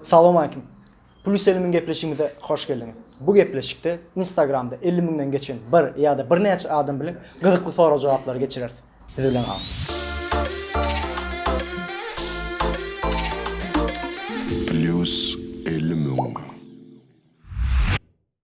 Salowmaleýkim. Plus elli müň gepleşigimize hoş geldiňiz. Bu gepleşikde Instagramda elli müňden geçen bir ýa-da birnäçe adam bilen gyzykly sorag-jogaplary geçireris. Biz bilen galyň. Plus elli müň.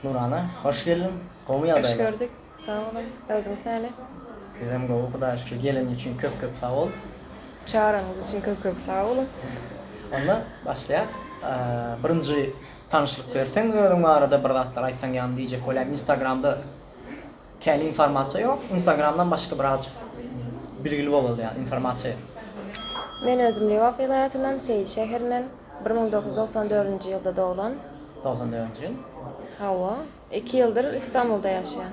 Nurana hoş geldiň. Gowmy ýagdaýlar? Hoş gördük. Sag boluň. Özüňiz näle? Bizem gowy Hudaýa şükür. Geleniň üçin köp köp sag bol. Çagyraňyz üçin köp köp sag boluň. Onda başlaýas. Birinji tanyşlyk berseň özüň barada bir zatlar aýtsaň ýagny diýjek bolýan instagramda. Kän informasiýa ýok. Instagramdan başga biraz bilgili bolaly ýaly informasiýa ýok. Men özüm Lebap welaýatyndan, Seýil şäherinden. Bir müň doküz ýüz togsan dördünji ýylda doglan. Togsan dördünji ýyl. Hawa. Iki ýyldyr Istanbulda ýaşaýan.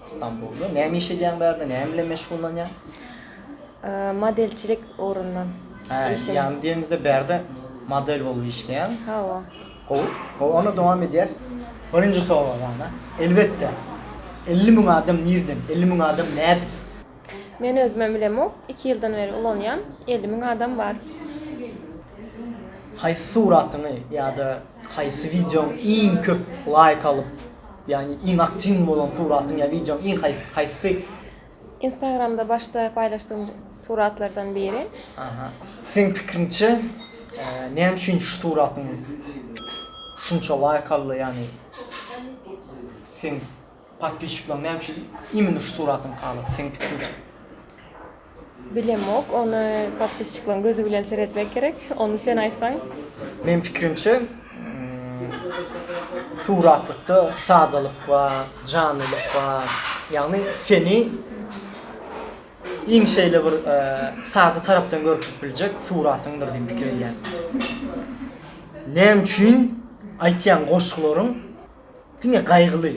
Istanbulda. Näme iş edýäň bärde? Näme bilen meşgullanýaň? Modelçilik ugrundan iş edýän. Ýagny diýenimizde bärde model bolup işleýäň. Hawa. Gowy, gowy onda dowam edýäs. Birinji sowal ana, elbetde, elli müň adam nirden, elli müň adam nädip? Men özümem bilemok, iki ýyldan beri ulanýan, elli müň adam bar. Haýsy suratyňy ýa-da haýsy wideoň iň köp laýk alyp, ýagny iň aktiwny bolan suratyň ýa wideoň iň haýsy haýsy Instagramda başda paýlaşdygym suratlardan biri. Aha. Seň pikriňçe näme üçin şu suratyň şunça laýk aldy ýagny seň podpisçiklaň näme üçin imini şu suratyň halaýar seň pikriňçe? Bilemok ony podpisçiklaň gözi bilen seretmek gerek ony sen aýtsaň. Meň pikrimçe Suratlykda sadalyk bar, janlylyk bar. Ýagny seni iň şeýle bir sada tarapdan görkezip biljek suratyňdyr diýip pikir edýän. Näme üçin aýtýan goşgularyň Diňe gaýgyly.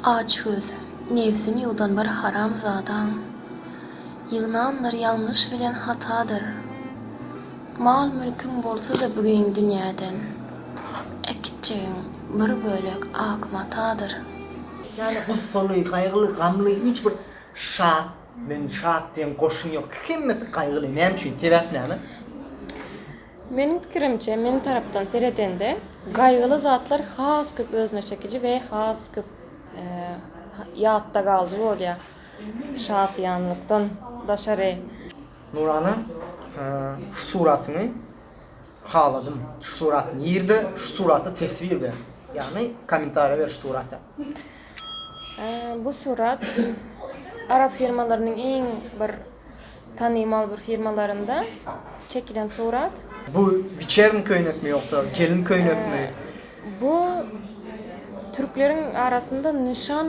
Aç göz, nebsin ýuwdan bir haram zadaň. Ýygnandyr ýalňyş bilen hatadyr. Mal mülküň bolsa-da bügin dünýäden. Äkitjegiň bir bölek ak matadyr. Ýagny gussaly, gaýgyly, gamly, hiç bir şat, men şat diýen goşgy ýok. Hemmesi gaýgyly. Näme üçin? Sebäp näme? Meniň pikirimçe, men tarapdan seredende, gaýgyly zatlar has köp özüne çekiji we has köp ýatda galyjy bolýar, şadyýanlykdan daşary. Nurana, şu suratyňy haladym, şu surat nirde, şu surata teswir ber, ýagny kommentariýa ber şu surata. Bu surat arap firmalarynyň iň bir Tanymal bir firmalarynda çekilen surat. Bu wiçerni köýnekmi ýogsa gelin köýnekmi? Bu türkleriň arasynda nyşan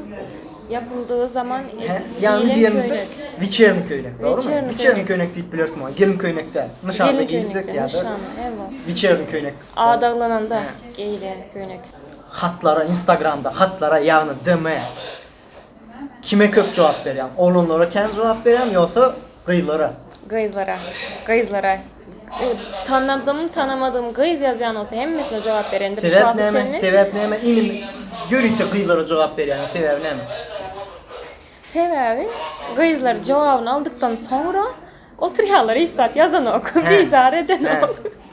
ýapyldygy zaman geýilen köýnek. Wiçerni köýnek dogrymy? Wiçerni köýnek diýip bileris muňa. Gelin köýnek däl. Nyşanda geýiljek ýa-da wiçerni köýnek. Adaglananda geýilen köýnek. Hatlara instagramda hatlara ýagny DM Kime köp jogap berýäň? Oglanlara kän jogap berýämi ýogsa gyzlara? Gyzlara. Gyzlara. Tanadym, tanamadym gyz ýazýan bolsa hemmesine jogap bereýin dip şu wagta çenli. Sebäp näme? Inim ýörite gyzlara jogap berýäň sebäbi näme? Sebäbi gyzlar jogabyny aldykdan soňra oturýarlar hiç zat ýazanok, bizar edenok.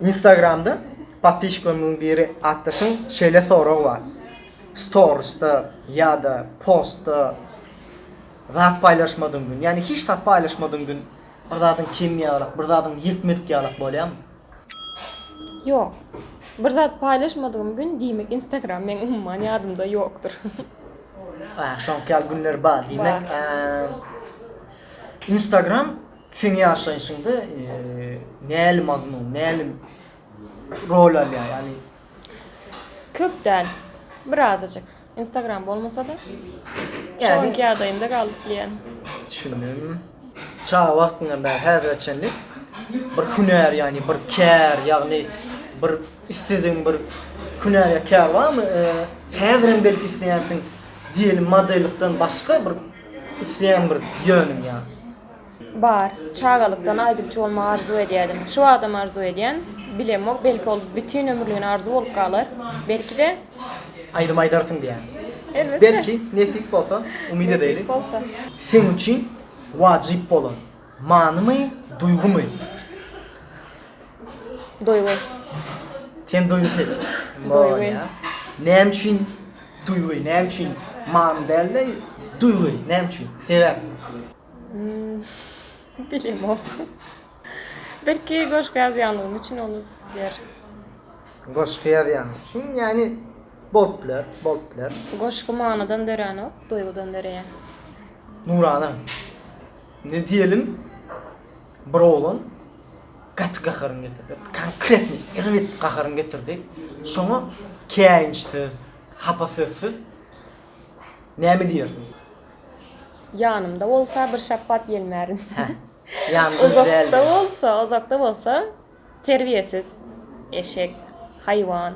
Instagramda podpişikleriňiň biri atdaşyň şeýle soragy bar. Storisda ýa-da postda zat paýlaşmadyň gün, ýagny hiç zat paýlaşmadyň gün bir zadyň kem ýalak, bir zadyň ýetmedik ýalak bolýarmy? Ýok. Bir zat paýlaşmadygym gün diýmek Instagram meň umuman ýadymda ýokdur. Aýa, şoňky ýaly günler bar. Diýmek, Instagram Seň ýaşaýşyňda näli mazmun, näli rol alýar? Ýagny. Köp däl. Birazajyk. Instagram bolmasa-da. Şu anki ýagdaýymda galyp bilýän. Düşündim. Çaga wagtyňdan bäri häzire çenli bir hünär, ýagny bir kär, ýagny bir isledigiň bir hünär ýa kär barmy? Häzirem belki isleýänsiň, diýeli modellikden başga bir isleýän bir ýönüň ýa. Bar. Çagalykdan aýdymçy bolmagy arzuw edýädim. Şu wagtam arzuw edýän. Bilemok, belki ol bütin ömürligine arzuw bolup galar. Belki-de. Aýdym aýdarsyň diýýän. Elbetde. Belki, nesip bolsa, umyt edeýli. Nesip bolsa. Seň üçin wajyp bolan, manymy, duýgymy? Duýgy. Sen duýgy seç. Duýgy. Näme üçin duýgy? Näme üçin many dälde duýgy? Näme üçin? Sebäp. Hmm. Bilemok. Belki goşgy ýazýanlygym üçin olup biler. Goşgy ýazýanyň üçin, ýagny bolup biler, bolup biler. Goşgy manydan döränok, duýgudan döreýär. Nurana. Ne diýelim? Bir oglan gaty gaharyny getirdi. Konkretnyý, erbet gaharyny getirdi. Şoňa käýinçsiz, hapa sözsüz näme diýersiň? Ýanymda bolsa bir şapbat ýelmärin. Hä. Ýanymda däldir. Uzakda bolsa, uzakda bolsa terbiýesiz, eşek, haýwan.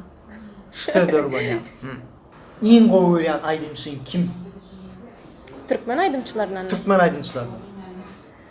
Şu sözleri ulanýar. Hum. Iň gowy görýän aýdymçyň kim? Türkmen aýdymçylaryndanmy? Türkmen aýdymçylaryndan.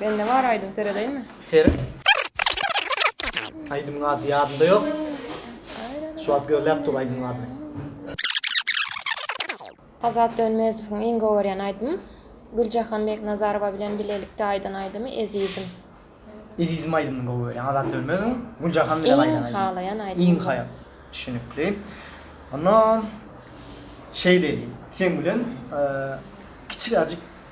Bende bar aýdym seredeýinmi? Seret. Aýdymyň ady ýadymda ýok. Şu wagt gözläp dur aýdymyň adyny. Azat Dönmezowyň iň gowy görýän aýdymy Güljahan Beknazarowa bilen bilelikde aýdan aýdymy Ezizim. Ezizim aýdymyny gowy görýän Azat Dönmezowyň Güljahan bilen aýdan aýdymy. Iň halaýan aýdymy. Iň haýal. Düşünikli. Onda şeýle eýleýin. Sen bilen kiçiräjik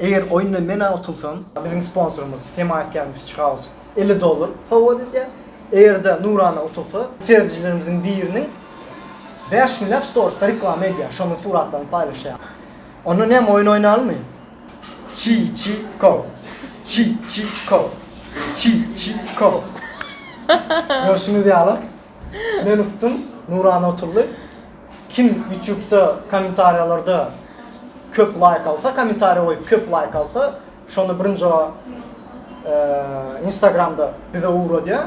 Eger oýunda men-ä utulsam, biziň sponsorymyz, hemaýatkärimiz Fish House elli dollar sowgat edýär. Eger-de Nurana utulsa, seredijilerimiziň biriniň bäş günläp storiesde reklama edýär, şonuň suratlaryny paýlaşýar. Onda näme, oýun oýnalymy? Çi-çi-ko! Çi-çi-ko! Çi-çi-ko! Görşüňiz ýaly, Men utdum Nuran otully kim ýutýubda kommentariýalarda köp laýk alsa kommentariýa goýup köp laýk alsa şony birinjo instagramda bize ugradýa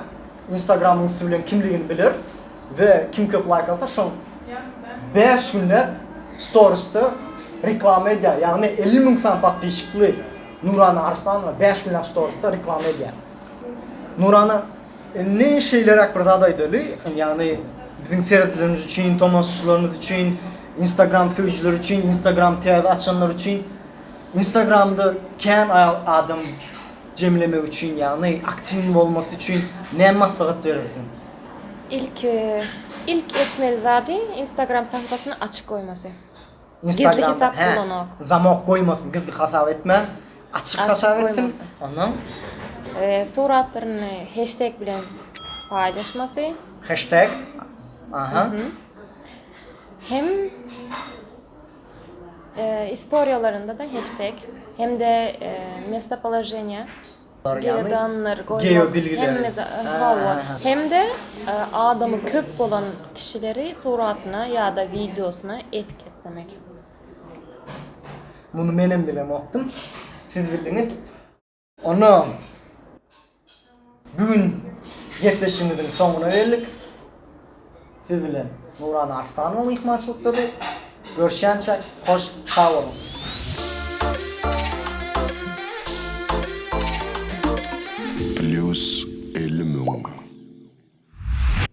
instagramyň üsti bilen kimligini biler we kim köp laýk alsa şoň bäş günläp storisde reklama edýa ýagny elli müň sany podpişikli Nurana Arslanowa bäş günläp storisde reklama edýa Nurana Indi şeýleräk bir zat aýdaly, ýagny biziň seredijilerimiz üçin, tomaşaçylarymyz üçin, Instagram söýüjileri üçin, Instagram täze açanlar üçin, Instagramda kän adam jemlemek üçin, ýagny aktiwnyň bolmasy üçin näme maslahat berersiň? Ilki, ilk etmeli zady Instagram sahypasyny açyk goýmasy. Gizli hesap bolanok. Zamok goýmasyn gizli hasap etmän açyk hasap etsin ondan. Suratlaryny heşteg bilen paýlaşmasy. Heşteg aha. Hem istoriýalarynda da heşteg hem de mestopoloženiýa. Geodanlar goýmak hemme za hawa, hem-de adamy köp bolan kişileri suratyna ýa-da wideosyna etiketlemek. Muny menem bilemokdym. Siz bildiňiz. Onda bu gün gepleşigimiziň soňuna geldik. Siz bilen Nurana Arslanowa myhmançylykdady. Görüşýänçä hoş sag boluň. Plus elli müň.